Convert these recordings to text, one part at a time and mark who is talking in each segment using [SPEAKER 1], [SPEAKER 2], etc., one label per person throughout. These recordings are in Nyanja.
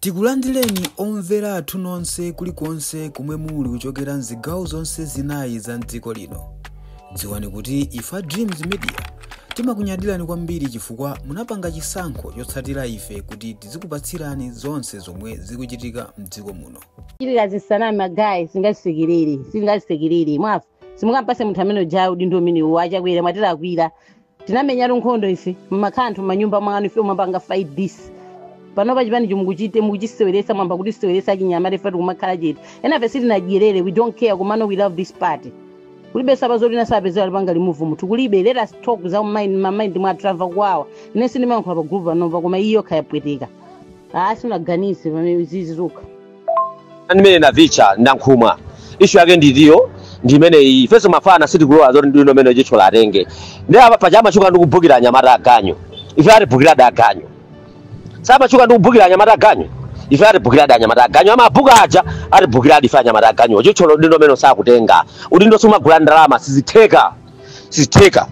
[SPEAKER 1] Tikulandireni omvera athu nonse kulikonse komwe muli kuchokera mzigawo zonse zinayi za mdziko lino. Dziwani kuti ife a Dreams Media timakunyadirani kwambiri chifukwa munapanga chisankho chotsatira ife kuti tizikupatsirani zonse zomwe zikuchitika mdziko muno. chitira
[SPEAKER 2] zisanami guys sitingazisekerere sitingazisekerere mwafu simungampatse munthu amene ujayo udindo umene uwo achakwera mwatirakwira tinamenyatu nkhondo ife mumakhala anthu manyumba mwanu ife timapanga fight this panopa chipani chimukuchite mukuchiseweretsa mwayamba kutiseweretsa achinyamata ife nkumakhala chete enafe sitinadyerere we don't care komano we love this party kulibe zazaba zoti asapezere lipanga limuvu munthu kulibe let us talk za mind mamind mwathu tamva kuwawa ine sindimayankhula pa group panopa koma iyo khayapweteka aasi sinaganize pamene zizi zokha
[SPEAKER 3] ndimene navicha ndakhumudwa ishu yake ndi iyo ndimene iyi ifenso mafana sitikulowa zoti udindo umene Chithyola atenge ndi apa paja amachuka ndi kubhukira anyamata aganyu ife atibhukiradi aganyu samachuka ndi kubhukira anyamata aganyu ife atibhukiradi anyamata aganyu amabhuka aja atibhukiradi ife anyamata aganyu Chithyola udindo umene sakutenga udindo sumagula ndalama sizitheka sizitheka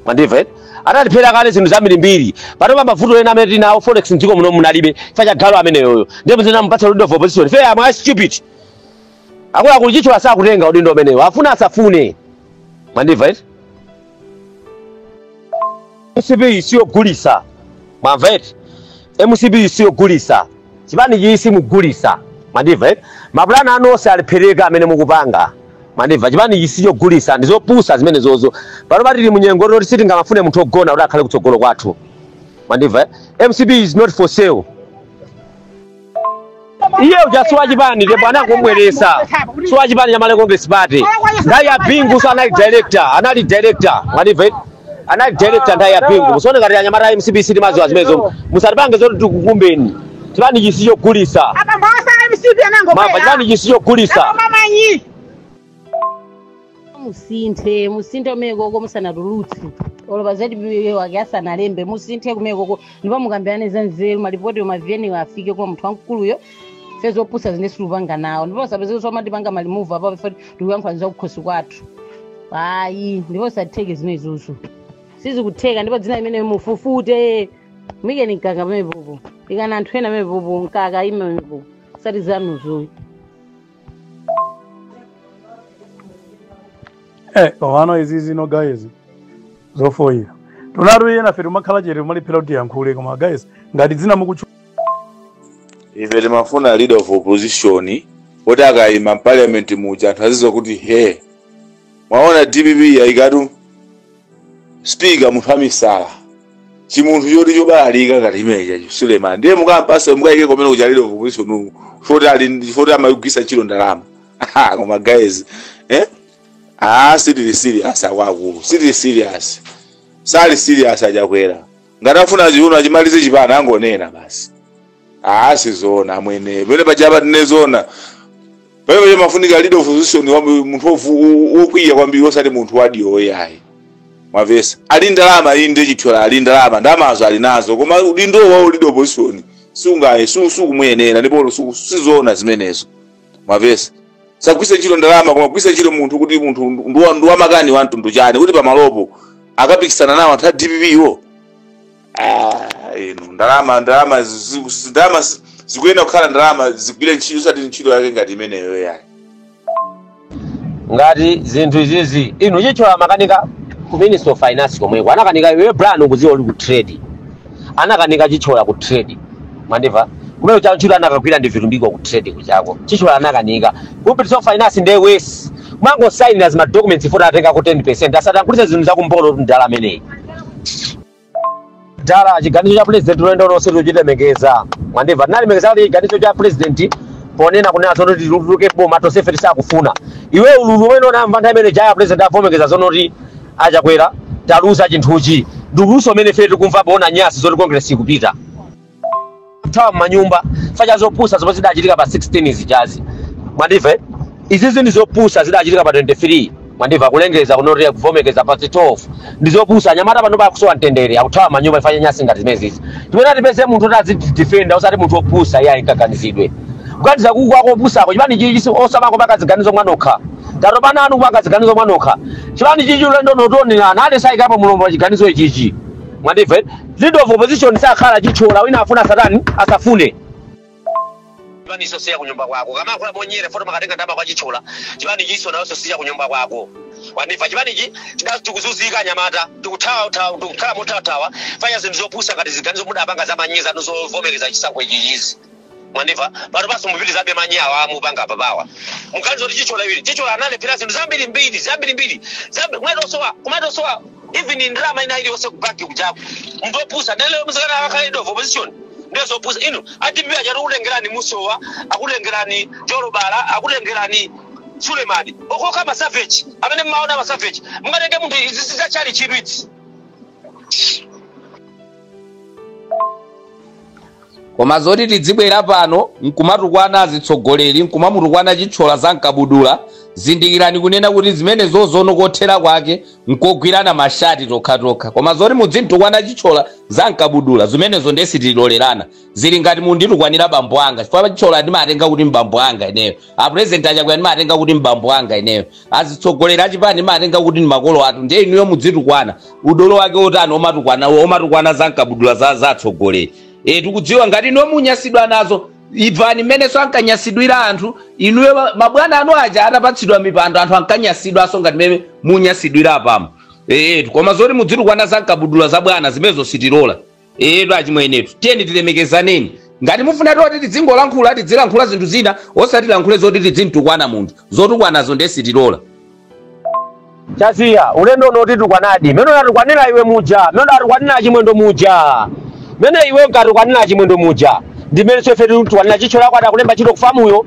[SPEAKER 3] mwandimva eti analephera kale zinthu zambirimbiri panopa mavuto ena amene tinawo forex mdziko muno munalibe chifukwa cha galu ameneyoyo ndipo mzikamupatsa leader of opposition ife amwe stupid akuluakulu Chithyola sakutenga udindo umenewo afuna asafune mwandimva eti mcp siyogulisa mwamva eti mcp siyogulisa chipani ichi simugulisa mwandimva eti mapulani anu onse alephereka amene mukupanga mwandimva chipani ichi sichogulisa ndizopusa zimenezozo panopa tili munyengo yoti sitingamafune munthu ogona kuti akhale kutsogolo kwathu mwandimva eh? mcp is not for sale iye uja si wachipani ndipo anangomubweresa si wachipani cha malawi congress party nthawi ya bingu so anali director anali director mwandimva anali director nthawi ya bingu musone ngati anyamata a mcp sitimaziwa zimenezo musatipange zoti tikukumbeni chipanichi sichogulisa Apa mbasa
[SPEAKER 4] MCP anango. mamba chipanichi sichogulisa
[SPEAKER 3] Mama nyi.
[SPEAKER 2] musinthe musinthe kumekoko musanatulutse olo pa ZBC pake asanalembe musinthe kumekoko ndipo mukambirane za nzeru malipoti ma VN wo afike kwa munthu wamkuluyo ife zopusazi sitikupanga nawo ndipo asapeze kuti somatipanga malimuvu apapo ife tikuyankhula za kukhosi kwathu ayi ndipo sizitheka zimenezozo sizikutheka ndipo dzina limenelo mufufute muyikeni mkaka pamepopo ikani anthu ena pamepopo mkaka ayimepo osati zanuzoyi
[SPEAKER 5] Eh, komano izizi no guys zofoyira tunatu enafe timakhala chete timalephera kuti tiyankhule koma guys ngati dzina
[SPEAKER 6] mukutchu ife timafuna leader of opposition woti akayima mparliament muja anthu azidziwa kuti he mwaona dpp yayikatu speaker munthu amisala chimunthu choti chobalalika ngati mene uja Suleman ndiye mukampase mukayike komwene kuja leader of opposition foti ali foti amayigwiritsa ntchito ndalama Aha, koma guys eh ah sitili serious akuluakulu sitili serious sali serious a Chakwera ngati afuna chiuno achimalize chipana angonena basi Ah, sizoona amwene pamene paja apa tinene zoona pamene paja pamafunika leader of opposition wa munthu wovu- wo- wokwiya kwambiri osati munthu wadiyo yayi mwamvetsa ali ndalama inde Chithyola ali ndalama ndalamazo ali nazo koma udindo wa leader of opposition sungaye su- sukumuyenera ndipo su- sizoona zimenezo mwamvetsa sagwiritsa ntchito ndalama koma kugwiritsa ntchito munthu kuti munthu ndi wa- ndi wamakani wa mtundu wanji kuti pamalopo akapikisana nawo anthu a dpp wo Ah, inu ndalama ndalama zi- zi- zi- ndalama zi- zikuyenera kukhala ndalama zigwire ntchito osati ntchito yake ngati imeneyo yayi ngati
[SPEAKER 3] zinthu izizi inu Chithyola amakanika ku minister of finance komweko anakanika iwe plan ukuziwa uli ku trade anakanika Chithyola ku trade mwandimva kumene cha ntchito anakagwira ndi Vitumbiko ku trade kujako Chithyola anakanika ku minister of finance ndiye munthuyu amangosainira zima documents futi atenga ku 10 percent osati ankagulitsa zinthu zakumbolo mdala ameneyi dala chiganizo cha president ulendo onse tichilemekeza mwandimva tinalemekeza kuti chiganizo cha president ponena kunena zonoti tituluke boma tonsefe tisakufuna iwe ululu umene unamva nthawi imene ija a president avomekeza zono kuti a Chakwera taluza chinthuchi ndi ululunso umene ife tikumva poona nyasi zoti congress ikupita kuthawa m'manyumba chifukwa cha zopusa zomwe zidachitika pa 16 zijazi mwandimva eh? izizi ndi zopusa zidachitika pa 23 mwandimva kulengeza kunoria kuvomekeza pa 12 ndi zopusa anyamata pano akusowa mtendere akuthawa m'manyumba chifukwa cha nyasi ngati zimenezi timati tipeze munthu oti azitidifenda osati munthu opusa iye ayikaganizidwe kuganiza kuku kwako opusako chipani chichi si- osamangopanga ziganizo mwanokha table ya ana anu kupanga ziganizo mwanokha chipani chichi ulendo uno tionerana ndisayikapo mulomo chiganizo ichichi mwandimva eh? leader of opposition sakhala Chithyola wina afune satana asafune chipanichinso si cha kunyumba kwako kama kula monyere foto makatenga ndalama kwa Chithyola chipanichinso nacho si cha kunyumba kwako wandimva chipanichi chidazi tikuzunzika anyamata tikuthawathawa tikukhala mothawa chifukwa cha zinthu zopusa ngati ziganizo mudapanga za manyi zanu zovomereza chisankho ichichizi mwandimva panopanso mupitirizabe manyi awa mupanga apapawa muganiza kuti Chithyola iwe Chithyola analephera zinthu zambiri mbiri zambirimbiri zambi- kumatosowa kumatosowa even ndalama ina iliyonse ku banki kujaku nzopusa nde lero muzikanena akakhala leader of opposition nde zopusa inu a dpp akuti akutengerani Msowa akutengerani Jolobala akutengerani Sulemani okhaokha masaveji amene mmaona masaveji mungatenge munthu izi zachali chitsiru
[SPEAKER 7] koma zoti tidzibwera pano nkumatukwana azitsogoleri nkumamutukwana chithyola za mkabudula zindikirani kunena kuti zimene zozono kothera kwake nkogwirana mashati tokhatokha koma zoti mudzimtukwana chithyola za mkabudula zimenezo nde sitilolerana zili ngati munditukwanira bambo anga chifukwa chithyola ndimatenga kuti mbambo anga ineyo apurezidenti achakwera ndimatenga kuti mbambo anga ineyo azitsogoleri achipani ndimatenga kuti ndi makolo athu ndiye inuyo mudzitukwana udolo wake otani omatukwana omatukwana za nkabudula za za atsogoleri e tikudziwa ngati inuyo munyasidwa nazo imvani mmenenso ankanyasidwira anthu inuyo ma- mabwana anu aja atapatsidwa mipando anthu ankanyasidwanso ngati mmene munyasidwira apamo ee koma zoti mudzitukwana za nkabudula za bwana zimenezo sitilola eetu achimwenetu tiyeni tilemekezaneni ngati mufuna toti tidzingolankhula tidzilankhula zinthu zina osati lankhule zoti tidzimtukwana munthu zotukwanazo nde sitilola
[SPEAKER 3] chasiya ulendo uno titukwanadi mmene unatukwanira iwe muja mmene unatukwanira chimwendo muja mmene iwe unkatukwanira chimwendo muja ndi mmenenso ife titukwanira chithyola wako adakulemba ntchito kufamuyo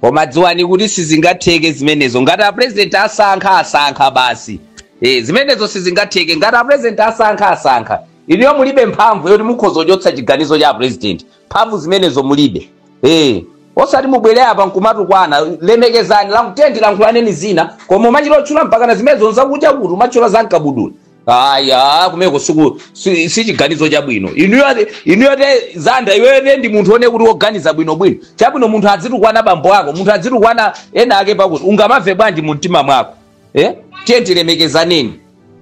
[SPEAKER 7] koma dziwani kuti sizingatheke zimenezo ngati apurezidenti asankha asankha basi e, zimenezo sizingatheke ngati apurezidenti asankha asankha inuyo mulibe mphamvu yoti mukhoza kuchotsa chiganizo cha apurezidenti mphamvu zimenezo mulibe e, osati mubwere apa nkumatukwana lemekezani lankutendi lankhulaneni zina koma umachita otchula mpakana zimenezo nzakudya kuti umatchula za mkabudula aya kumeko siku si- sichiganizo chabwino inuyo ati- inuyo ati zanda iweyo ndiye ndi munthu one kuti woganiza bwinobwino chabwino munthu adzitukwana bambo ako munthu adzitukwana ena ake pakuti ungamamve bwanji mu mtima mwako eh? tiyeni tilemekezaneni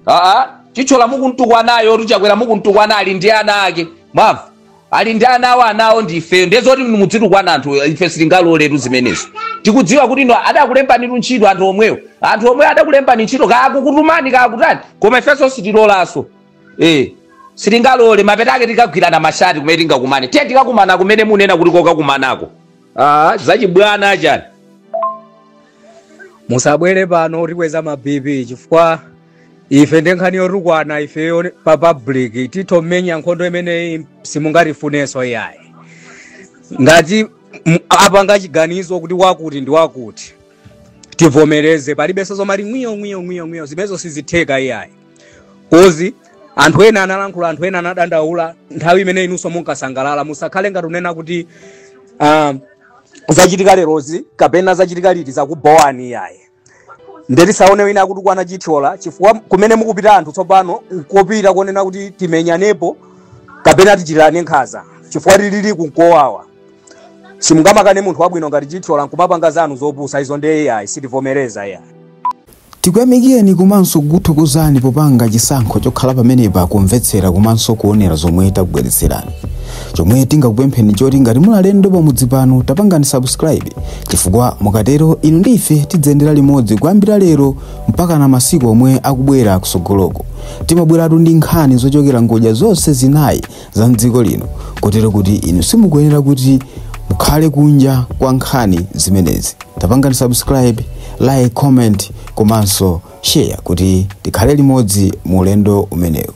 [SPEAKER 7] aa chithyola mukuntukwanayo chakwera mukuntukwana ali ndi ana ake mwamva ali ndi ana awo ana awo ndi ifeyo ndiye zoti inu mudzitukwana anthu ife sitingaloletu zimenezo tikudziwa kuti inu adakulembanitu ntchito anthu omwewo anthu omwe adakulembani ntchito kaya akukutumani kaya akutani koma ifenso sitilolanso eh sitingalole mapeto ake tikagwirana mashati kumene tingakumane tiye tikakumana kumene munena kuti kokakumanako ah zachibwana achani
[SPEAKER 8] musabwere pano tikweza ma bp chifukwa ife ndi nkhani yotukwana ifeyo pa public titho menya nkhondo imeneyi simungatifunenso iyayi ngati m- apanga chiganizo kuti wakuti ndi wakuti tivomereze palibenso zomati ngwiyo ngwiyo ngwiyo ngwiyo zimenezo sizitheka iyayi kozi anthu ena analankhula anthu ena anadandaula nthawi imene inunso munkasangalala musakhale ngati unena kuti um, zachitika lerozi kapena zachitika liti zakubowani iyayi nde tisaone wina akutukwana chithyola chifukwa kumene mukupita anthu tsopano nkopita konena kuti timenyanepo kapena tichitirane nkhaza chifukwa tilili kunkowawa simungamakane munthu wabwino ngati chithyola nkumapanga zanu zopusa izo nde iyayi sitivomereza iyayi
[SPEAKER 1] tikuyamikireni komanso kukuthokozani popanga chisankho chokhala pamenepa kumvetsera komanso kuonera zomwe takubweretserani chomwe tingakupempheni choti ngati muli alendo pamudzi pano tapangani subscribe chifukwa mukatero inu ndi ife tidzayendera limodzi kuyambira lero mpaka na masiku omwe akubwera kusogoloko timabweratu ndi nkhani zochokera ngodya zonse zinayi za mdziko lino kotero kuti inu simukuyenera kuti mukhale kunja kwa nkhani zimenezi tapangani subscribe like comment komanso share kuti tikhale limodzi mu ulendo umenewu